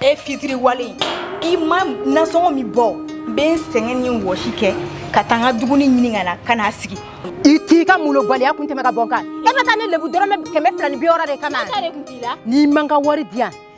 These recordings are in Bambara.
e fitiriwale i ma nasɔngɔ min bɔ n bɛ n sɛgɛn ni wɔsi kɛ ka taa n ka dumuni ɲini ka na ka n'a sigi i t'i ka molobaliya kun tɛmɛ ka bɔ n kan e bɛ taa ne lebu dɔrɔmɛ kɛmɛ fila ni bi wɔɔrɔ de kama n'i man ka wari di yan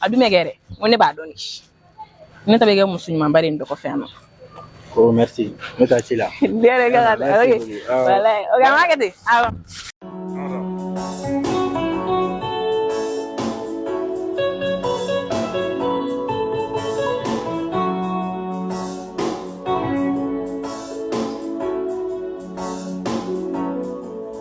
a dun bɛ kɛ dɛ n ko ne b'a dɔn de ne ta bɛ kɛ muso ɲumanba de ye n dɔgɔ fɛ yan nɔ ko merci ne ta ci la ne yɛrɛ ka ka taa ok wala ok an b'a kɛ ten awɔ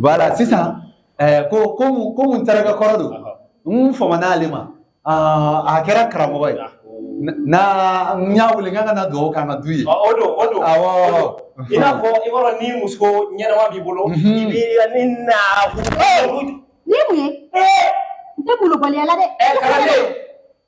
Wala sisan ko ko ko mun n terikɛ kɔrɔ don n faman'ale ma a kɛra karamɔgɔ ye na n y'a wele k'a ka na dugawu k'an ka du ye o don o don i n'a fɔ i b'a dɔn ni muso ɲɛnama b'i bolo i b'i ni na ni mun ye n tɛ molobaliya la dɛ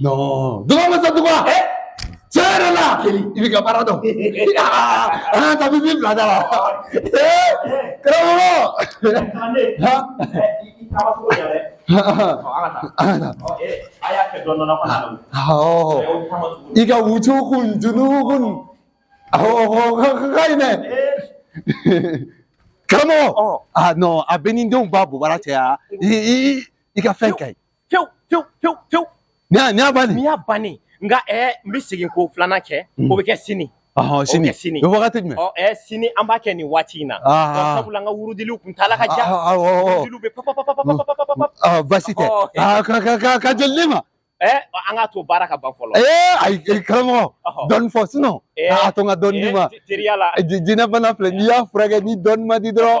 Non. Duga masa duga. Eh? Tiɲɛ yɛrɛ la. I bɛ ka baara dɔn. An ka bibi bila da la. Karamɔgɔ. I ka wucu kun junu kun. Ka ɲi dɛ. Karamɔgɔ. Ah non a bɛ ni denw ba bobara cɛ ya. I ka fɛn ka ɲi. pewu pewu pewu pewu ni y'a ni y'a bannen ni y'a bannen nka ɛɛ eh, n bɛ segin k'o filanan kɛ hmm. o bɛ kɛ sini ɔhɔn sini o bɛ kɛ sini o bɛ wagati jumɛn ɔ oh, ɛɛ eh, sini an b'a kɛ nin waati in na ah, ah, ah. sabula n ka wurudiliw kuntaala ka jan wurudiliw bɛ papapapapapapapapap ɔ baasi tɛ aa ka ka ka ka joli ne ma ɛɛ eh, an k'a to baara ka ban fɔlɔ ee ayi karamɔgɔ dɔɔni fɔ sinon a to n ka dɔɔni d'i ma teriya la jinɛ bana filɛ n'i y'a furakɛ ni dɔɔni ma di dɔrɔn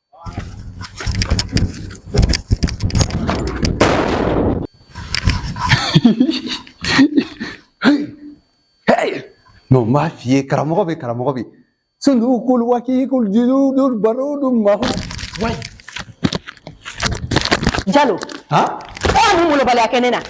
Mɛ n b'a f'i ye karamɔgɔ bɛ karamɔgɔ bɛ sundu kul waki kul juludul barudum mahu jalo aa mun molobaliya kɛ ne na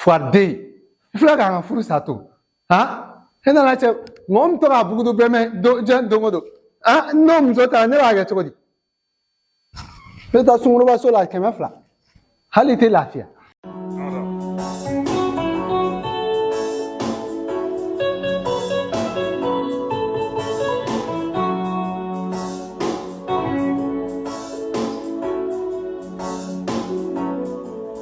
Fuwariden i filɛ k'an ka furu sa to han e nana cɛ mɔgɔ min to k'a bugudu bɛmɛ diɲɛ don o don an n'o muso taara ne b'a kɛ cogo di ne bɛ taa sungurunba so la kɛmɛ fila hali i tɛ lafiya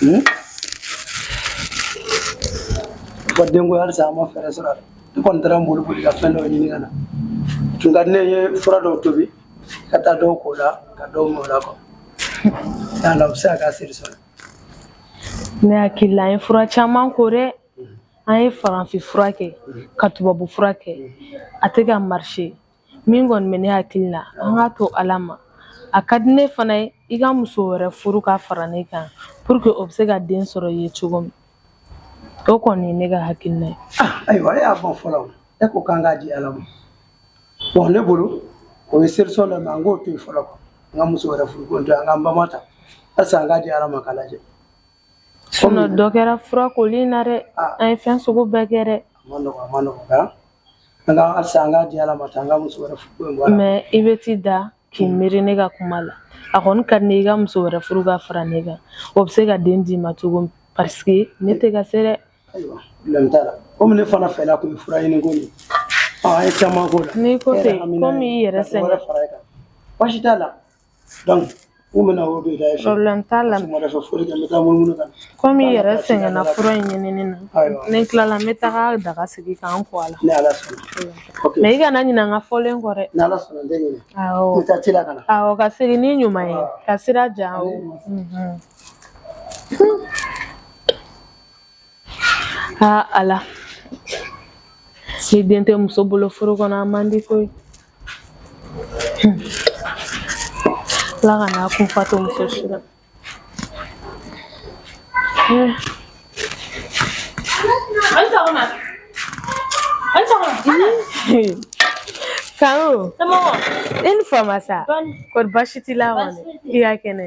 Hmm? Ko denko halisa an ma fɛɛrɛ sɔrɔ a la. N kɔni taara n boli boli ka fɛn dɔ ɲini ka na. Tun ka di ne ye fura dɔw tobi ka taa dɔw ko la ka dɔw min o la ko yala o bɛ se ka k'a seri sɔrɔ. Ne hakili la an ye fura caman ko dɛ an ye farafinfura kɛ ka tubabu fura kɛ a tɛ ka marché min kɔni bɛ ne hakili la an k'a to ala ma a ka di ne fana ye i ka muso wɛrɛ furu ka fara ne kan pour que o bɛ se ka den sɔrɔ i ye cogo min o kɔni ye ne ka hakilina ye ah, ayiwa e y'a fɔ fɔlɔ e ko k'an k'a di ala ma bon ne bolo o ye solution dɔ mɛ an k'o to yen fɔlɔ n ka muso wɛrɛ furu ko to an k'an bama ta halisa an k'a di ala ma k'a lajɛ dɔ kɛra fura koli na dɛ an ye fɛn sugu bɛɛ kɛ dɛ mɛ i bɛ t'i da k'i miiri ne ka kuma la a kɔni ka di ne i ka muso wɛrɛ furu ka fara ne kan o bɛ se ka den d'i ma cogo min paseke ne tɛ ka se dɛ komi ne fana fɛ tun fura ɲini ko an ye caman k'o la n'i ko ten komi i yɛrɛ sɛgɛn baasi t'a la Kɔmi i yɛrɛ sɛgɛnna fura in ɲinini na ni n tilala n bɛ taga daga sigi k'an ko a la mɛ i kana ɲinɛ n ka fɔlen kɔ dɛ ka segin ni ɲuman ye ka sira diya aa ala ni den tɛ muso bolo furu kɔnɔ a man di koyi Ala kana kun fa to muso si la kan i ni fama sa ko di baasi t'i la kɔni i ka kɛnɛ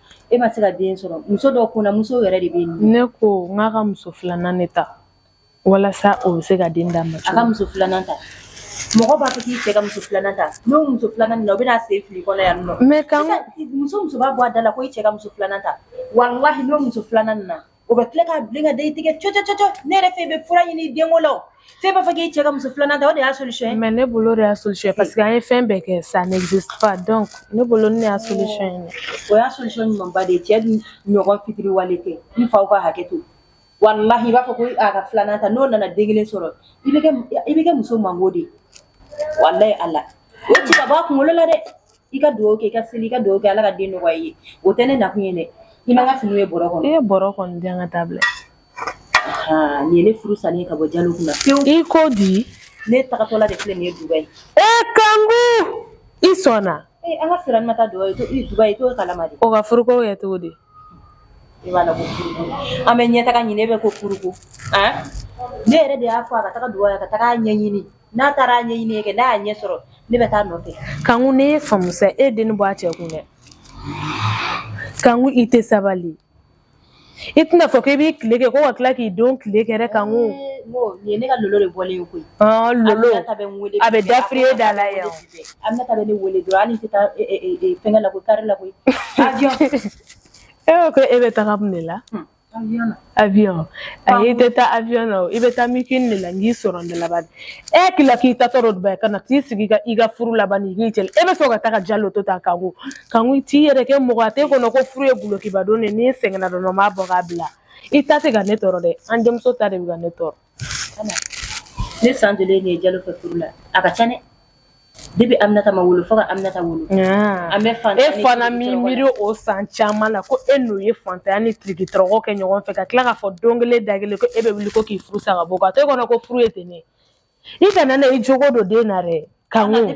E ma se ka den sɔrɔ muso dɔ kunna muso yɛrɛ de bɛ yen ne ko n k'a ka muso filanan ne ta walasa o bɛ se ka den d'a ma ka muso filanan ta mɔgɔ b'a fɔ k'i cɛ ka muso filanan ta n'o muso filanan na o bɛna se fili kɔnɔ yan nɔ muso muso b'a bɔ a da la ko i cɛ ka muso filanan ta walahi n'o muso filanan na O bɛ tila ka bilen ka da i tigɛ cɔ cɔ cɔ cɔ ne yɛrɛ fɛ i bɛ fura ɲini denko la o f'e b'a fɔ k'e cɛ ka muso 2 nan ta o de y'a solution ye mais ne bolo o de y'a solution ye parce que an ye fɛn bɛɛ kɛ ça n'existe pas donc ne bolo ne y'a solution ye dɛ o y'a solution ɲumanba de ye cɛ dun ɲɔgɔn fitiriwale tɛ n faw ka hakɛ to walahi i b'a fɔ ko a ka 2 nan ta n'o nana den kelen sɔrɔ i bɛ kɛ i bɛ kɛ muso mango de ye walahi Ala o ci ka bɔ a kunkolo la dɛ i ka dugawu kɛ i ka seli i ka dugawu kɛ ala ka den nɔgɔya i ye o tɛ ne nakun ye dɛ i ma n ka fini ye bɔrɔ kɔnɔ i ye bɔrɔ kɔni di yan ka taa bila nin ye ne furu salen ye ka bɔ jalo kunna pewu i ko di ne tagatɔla de filɛ nin ye dubayi e kanku i sɔnna ee an ka sirani ma taa dubayi koyi dubayi t'o kalama dɛ o ka furuko kɛ cogo di i b'a la ko furuko an bɛ ɲɛtaga ɲini e bɛ ko furuko ne yɛrɛ de y'a fɔ a ka taga dubayi ka taga a ɲɛɲini n'a taara a ɲɛɲini kɛ n'a y'a ɲɛ sɔrɔ ne bɛ taa a nɔfɛ kanku ne ye faamu sa e den bɔ a cɛ kun dɛ kanku i tɛ sabali i tɛna fɔ k'i b'i tile kɛ ko ka tila k'i don tile kɛ dɛ kanku nin ye ne ka lolo de bɔlen ye koyi lolo a bɛ dafiriye da la yan aminata bɛ ne wele dɔrɔn hali n tɛ taa fɛngɛ la koyi kari la koyi e ko e bɛ taga mun de la ayi n tɛ taa awiyɔn na i bɛ taa min kɛ de la n k'i sɔrɔ ne laban e tila k'i ta tɔɔrɔ dubayi ka na k'i sigi ka i ka furu laban ni k'i cɛ e bɛ sɔn ka taga jalo to tan kanku kanku i t'i yɛrɛ kɛ mɔgɔ a tɛ kɔnɔ ko furu ye gulokiba don de n sɛgɛnna dɔrɔn n b'a bɔ k'a bila i ta tɛ ka ne tɔɔrɔ dɛ an denmuso ta de bɛ ka ne tɔɔrɔ Ne san joli de ye jalo fɛ furu la a ka ca dɛ depi aminata ma wolo fo ka aminata wolo an bɛ faantanya e fana mi miiri o san caman na ko e n'o ye faantanya ni tirikitɔrɔkɔ kɛ ɲɔgɔn fɛ ka tila k'a fɔ don kelen da kelen ko e bɛ wuli ko k'i furu sa ka bɔ ka to e kɔnɔ ko furu ye ten ne i kana na i jogo don den na dɛ Kanku i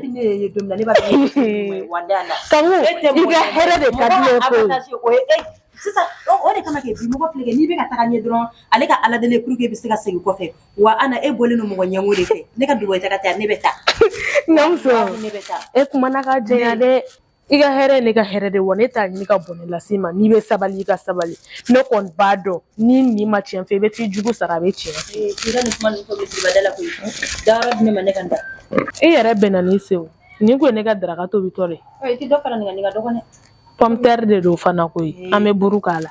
ka hɛrɛ de ka di ne ye o de kama mɔgɔ filɛ n'i bɛ ka taa ɲɛ dɔrɔn ale ka ala deli pur i bɛ se ka segin kɔfɛ wa e bɔlen don mɔgɔ ɲɛngo de fɛ ne ka dubayi taga ne bɛ taa e kuma ka jɛ dɛ i ka hɛrɛ ye ne ka hɛrɛ de wa ne t'a ɲini ka bɔnɛ las'i ma n'i bɛ sabali i ka sabali ne kɔni b'a dɔn ni ne ma tiɲɛ fɔ i bɛ t'i jugu sara a bɛ tiɲɛ i ka nin kuma ninnu fɔ misibada la koyi dayɔrɔ di ne ma ne ka n da i yɛrɛ bɛnna ni sew nin koyi ne ka daraka tobitɔ de i tɛ dɔ fara nin kan nin ka dɔgɔn dɛ pɔmtɛri de don fana koyi an bɛ buru k'a la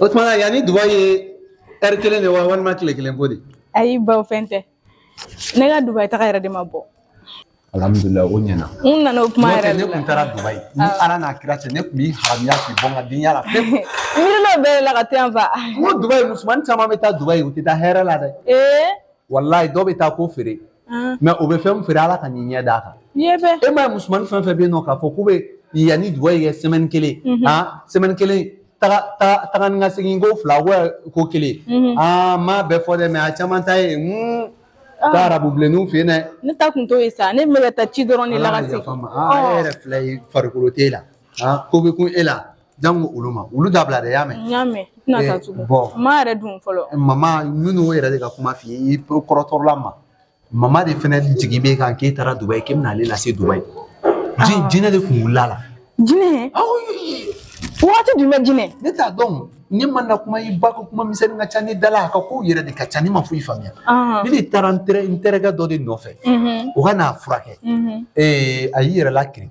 o tuma na yan ni dubayi ye ɛri kelen de wa walima tile kelen ko de ayi baw fɛn tɛ ne ka dubayi taga yɛrɛ de ma bɔ alhamdulilayi o ɲɛna n nana o kuma n'o yɛrɛ tɛ ne de la tun taara dubayi ni ala n'a kira cɛ ne tun b'i haramuya k'i bɔ n ka denya la pewu miirilo bɛɛ de la ka to yan fa n ko dubayi musomannin caman bɛ taa dubayi u tɛ taa hɛrɛ la dɛ ee walayi dɔw bɛ taa ko feere mɛ o bɛ fɛn min feere ala ka n'i ɲɛ d'a kan e ma ye musomanin fɛn fɛn bɛ yen nɔ k'a fɔ k'u bɛ yan ni dubayi kɛ sɛmɛni kelen aa sɛmɛni kelen taga ni ka segin ko fila ko kelen aa n m'a bɛɛ fɔ dɛ mɛ a caman ta ye taa arabu bilenninw fɛ yen dɛ ne ta kun t'o ye sa ne kun bɛ ka taa ci dɔrɔn de la ka segin e yɛrɛ filɛ ye farikolo t'e la ko bɛ kun e la janko olu ma olu dabila de y'a mɛn n y'a mɛn tɛna taa tugun bon ma yɛrɛ dun fɔlɔ mama minnu yɛrɛ de ka kuma f'i ye i kɔrɔtɔla ma mama de fana jigi b'e kan k'e taara Dubayi k'e bɛna ale lase Dubayi jinɛ de kun wulila la jinɛ waati jumɛn jinɛ ne t'a dɔn ne ma na kuma i ba ka kuma misɛnnin ka ca ne da la a ka kow yɛrɛ de ka ca ne ma foyi faamuya ne de taara n terikɛ dɔ de nɔfɛ o ka n'a furakɛ a y'i yɛrɛ la kirin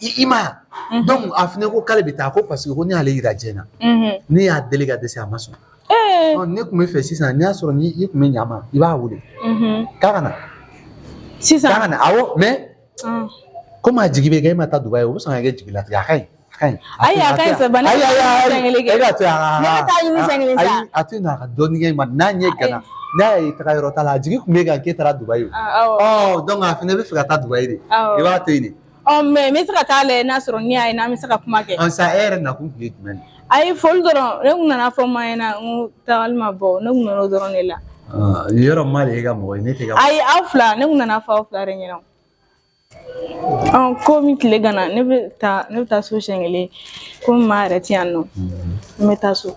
i ma ye donc a fana ko k'ale bɛ taa ko parce que ko ne y'ale yira jɛn na ne y'a deli ka dɛsɛ a ma sɔn ne kun bɛ fɛ sisan n'i y'a sɔrɔ ni i kun bɛ ɲa ma i b'a wele k'a ka na sisan k'a ka na awɔ mais komi a jigi bɛ kɛ e ma taa Dubayi o bɛ sɔn ka kɛ jigilatigɛ a ka ɲi ayi a ka ɲi sa bana ayi ayi ayi e ka to yan ne bɛ taa ɲini siɲɛ kelen sa ayi a to yen nɔ a ka dɔɔni kɛ ma n'a ɲɛ gana n'a y'a ye taga yɔrɔ t'a la a jigi kun b'e kan k'e taara Dubayi o ɔ donc a fana bɛ fɛ ka taa Dubayi de i b'a to yen de Ɔ mais n bɛ se ka taa lajɛ n'a sɔrɔ n' y'a ye n'an bɛ se ka kuma kɛ sisan e yɛrɛ nakun tun ye jumɛn ye ayi foli dɔrɔn ne kun nana fo ma ɲɛna n ko tagali ma bɔ ne kun nana o dɔrɔn de la yɔrɔ ma de y'e ka mɔgɔ ye ne t'e ka ayi aw fila ne kun nana fo aw fila de ɲɛna ɔ komi tile gana ne bɛ taa ne bɛ taa so siɲɛ kelen komi maa yɛrɛ tɛ yan nɔ n bɛ taa so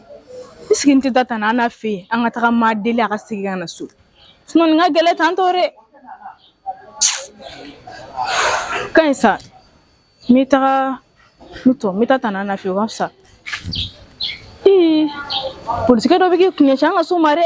I sigi n tɛ taa tan n'a fɛ yen an ka taga maa deli a ka segin ka na so sinon nin ka gɛlɛn tan tɔɔrɔ dɛ ka ɲi sa n bɛ taga n n bɛ taa tan n'a fɛ ka fisa polisikɛ dɔ bɛ k'i kun ɲɛsin an ka so ma dɛ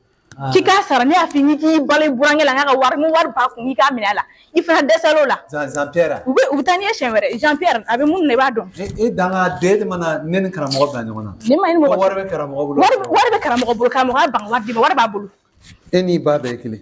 K'i k'a sara ne y'a fɔ i ye k'i bala i burankɛ la n k'a ka wari ni wari b'a kun i k'a minɛ a la i fana dɛsɛla o la Jean Jean Pierre a u bɛ u bɛ taa n'i ye siɲɛ wɛrɛ Jean Pierre a bɛ mun na i b'a dɔn e e dangaden de mana ne ni karamɔgɔ bila ɲɔgɔn na ne ma ɲini mɔgɔ ko wari bɛ karamɔgɔ bolo wari wari bɛ karamɔgɔ bolo karamɔgɔ y'a ban ka wari d'i ma wari b'a bolo e n'i ba bɛɛ ye kelen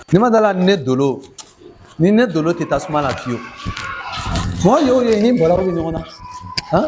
n'i ma dala ni ne dolo ni ne dolo tɛ tasuma la fiyewu mɔgɔ y'o ye ni balawu bɛ ɲɔgɔn na han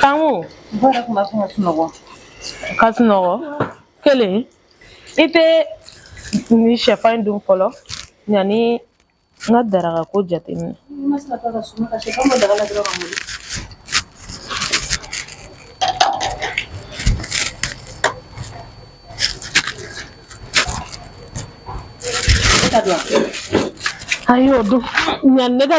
Kanku ka sunɔgɔ kelen i tɛ nin shɛfan in dun fɔlɔ yanni N ka daraka ko jateminɛ a y'o dun nka ne ka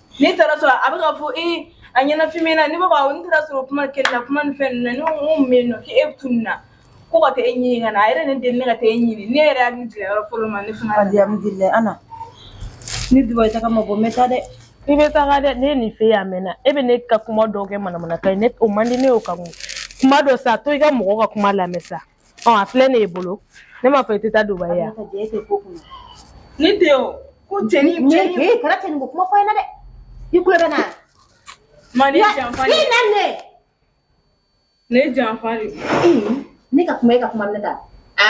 Ne taara sɔrɔ a bɛ ka fɔ e a ɲɛnafin na ne b'a fɔ n taara sɔrɔ kuma kɛ na kuma ni fɛn na ne min na k'e bɛ tun na ko ka taa e ɲini ka na a yɛrɛ ne deli ne ka taa e ɲini ne yɛrɛ y'a tigɛ yɔrɔ fɔlɔ ma ne fana di Ana ne Dubayi taa ma bɔ n bɛ taa dɛ i bɛ taa dɛ ne nin fɛ a mɛnna e bɛ ne ka kuma dɔw kɛ manamanakan ye ne o man di ne y'o ka kuma dɔ sa to i ka mɔgɔ ka kuma lamɛn sa ɔ a filɛ ne ye bolo ne m'a fɔ i tɛ taa Dubayi yan ne tɛ o ko cɛnin cɛnin ee kana cɛnin ko kuma fɔ n ɲɛna dɛ i tulo bɛ na ma ne janfa de i nana ne janfa de ne ka kuma e ka kuma minɛ ta a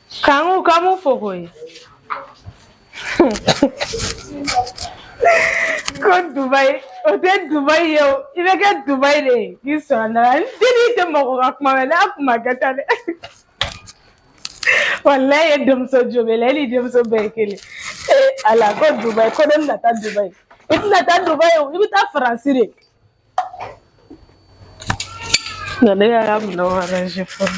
Kangu ka mun fɔ koyi. Ko Dubayi o tɛ Dubayi ye o i bɛ kɛ Dubayi de ye k'i sɔrɔ n da la ni ni tɛ mɔgɔ ka kuma mɛn n'a kuma kɛ tan dɛ walayi e denmuso jobele e ni denmuso bɛɛ ye kelen ee ala ko Dubayi ko ne bɛna taa Dubayi i tɛna taa Dubayi o i bɛ taa Faransi de nka ne y'a ka minɛnw arrange fɔlɔ.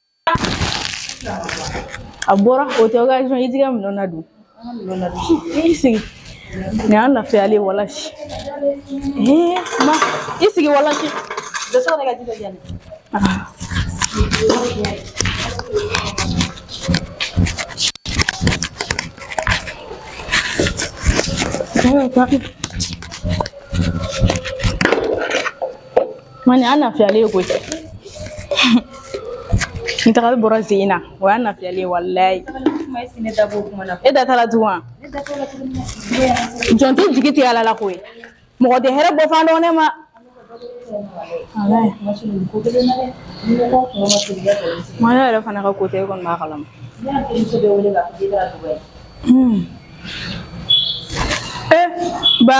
A bɔra o tɛ occasion ye i t'i ka minɛnw ladon i sigi nin y'an lafiya le walasi ma i sigi walasi Ma nin y'an lafiya le koyi n tagali bɔra sen na o y'an lafiya le walayi e da taara tugun jɔn tɛ jigi tigɛ ala la koyi mɔgɔ tɛ hɛrɛ bɔfan dɔn ne ma maa yɛrɛ fana ka ko tɛ e kɔni b'a kalama ee ba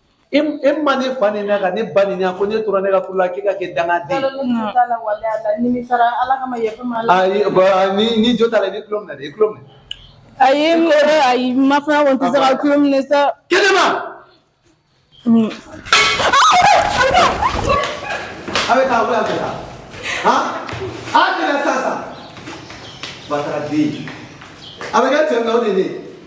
E e ma ne fa ni ne ka ne ba ni ko ne tora ne ka la k'i ka kɛ danga ni jɔ ta la i tulolo i tulo a ye n a ye ma sa kɛnɛma a bɛ taa bɛ taa a kɛra sa sa ba den a bɛ kɛ cɛ de de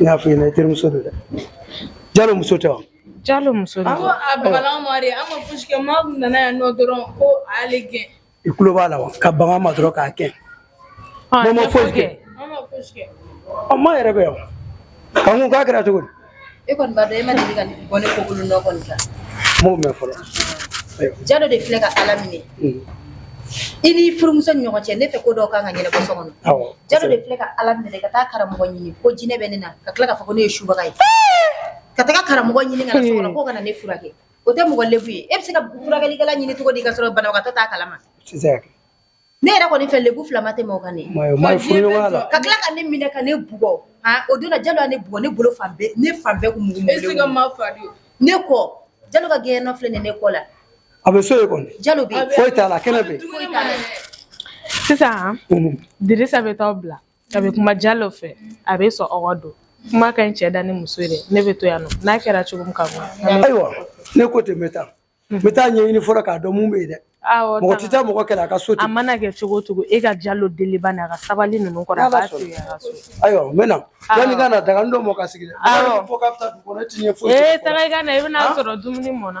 N'a fɔ ɲɛna i terimuso don dɛ jalo muso tɛ wa jalo muso don i tulo b'a la ka baga n ma dɔrɔn k'a kɛ ma foyi kɛ ma yɛrɛ bɛ yan k'a kɛra cogo e kɔni b'a dɔn e ma deli ka bɔ ne kokolon nɔ kɔni kan n m'o mɛn fɔlɔ jalo de filɛ ka ala minɛ mm. i ni furumuso ni ɲɔgɔn cɛ ne fɛ ko dɔw kan ka ɲɛnabɔ so kɔnɔ jalo de filɛ ka ala minɛ ka taa karamɔgɔ ɲini ko jinɛ bɛ ne na ka tila k'a fɔ ko ne ye subaga ye ka taga karamɔgɔ ɲini ka na so kɔnɔ k'o ka na ne furakɛ o tɛ mɔgɔ lebu ye e bɛ se ka furakɛlikɛla ɲini cogo di ka sɔrɔ banabagatɔ t'a kalama Ne yɛrɛ kɔni fɛ lebu fila ma tɛmɛ o kan ka tila ka ne minɛ ka ne bugɔ o don na jalo ne bugɔ ne bolo fan ne fan bɛɛ kun ne kɔ jalo ka gɛɲɛ nɔ filɛ nin ne kɔ la a bɛ so jalo sisan dirisa bɛ taa bila a bɛ kuma jalo fɛ a bɛ sɔn don kuma ka ɲi cɛ da ni muso dɛ ne bɛ to yan n'a kɛra cogo min k'a mɛn ayiwa ne ko tɛ bɛ taa n bɛ taa ɲɛɲini fɔlɔ k'a dɔn mun bɛ yen dɛ mɔgɔ tɛ taa mɔgɔ kɛlɛ a ka so ten a mana kɛ cogo o cogo e ka jalo deli bani a ka sabali ninnu kɔrɔ a b'a sigi a ka so ayiwa n bɛ na yanni ka na daganin dɔ mɔ ka sigi dɛ awɔ fo ka taa dugu kɔnɔ e ti ɲɛ foyi ee taga i ka na i bɛna sɔrɔ dumuni mɔna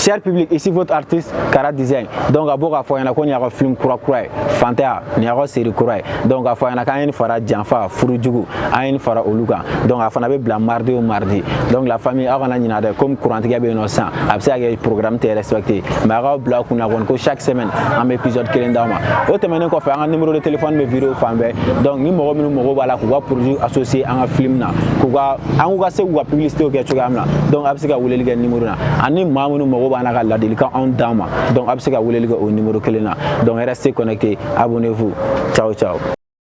Cher public, ici votre artiste Kara Design. Donc an bɛ k'a fɔ aw ɲɛna ko nin y'an ka film kura kura ye fantanya nin y'an ka série kura ye donc a fɔ aw ɲɛna k'an ye nin fara janfa furu jugu an ye nin fara olu kan donc a fana bɛ bila mardi o mardi donc la famille aw kana ɲinɛ dɛ comme kurantigɛ bɛ yen nɔ sisan a bɛ se ka kɛ programme tɛ respecté mais aw k'a bila aw kun na kɔni ko chaque semaine an bɛ épisode kelen d'aw ma o tɛmɛnen kɔfɛ an ka numéro de téléphone bɛ vidéo fan bɛɛ donc ni mɔgɔ minnu mago b'a la k'u ka produit associé an ka film na k'u ka an k'u ka se k'u ka publicité kɛ cogoya min na donc aw bɛ se ka weleli kɛ numéro na ani maa minnu mago b'a la ka ladilikanw d'an ma donc aw bɛ se ka weleli kɛ o numéro kelen na donc restez connecté abonnez-vous ciao ciao